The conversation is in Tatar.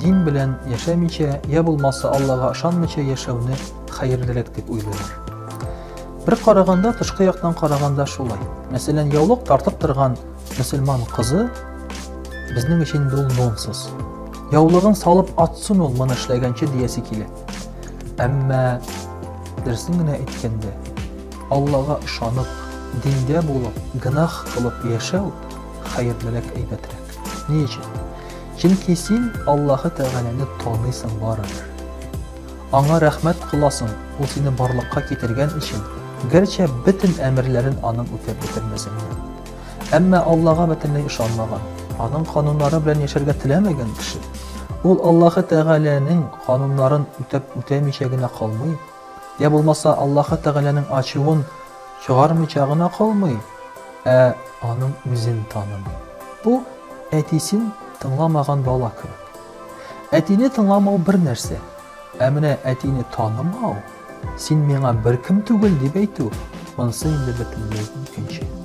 Дин белән яшәмичә, я булмаса Аллага ышанмыйча яшәүне хәерлерәк дип уйлыйлар. Бер караганда, тышкы яктан караганда шулай. Мәсәлән, яулык тартып торган мөселман кызы безнең өчен бул нонсенс. Яулыгын салып атсын ул моны эшләгәнче диясе килә. Әмма дөресен генә әйткәндә, Аллага ышанып, диндә булып, гынах кылып яшәү хәерлерәк әйбәтрәк. Ни өчен? Чөнки син Аллаһы Тәгаләне таныйсың барыбер. Аңа рәхмәт кыласың, ул сине барлыкка китергән өчен, гәрчә бөтен әмерләрен аның үтәп бетермәсен. Әмма Аллаһга бөтенләй ышанмаган, аның кануннары белән яшәргә теләмәгән кеше, ул Аллаһы Тәгаләнең кануннарын үтәп үтәмичә генә калмый, Йә булмаса Аллаһы Тәгаләнең ачуын чыгармыйча гына калмый, ә аның үзен танымый. Бу әтисен тыңламаган бала кебек. Әтине тыңламау бер нәрсә, ә менә әтине танымау, син миңа беркем түгел дип әйтү, монсы инде бөтенләй икенче.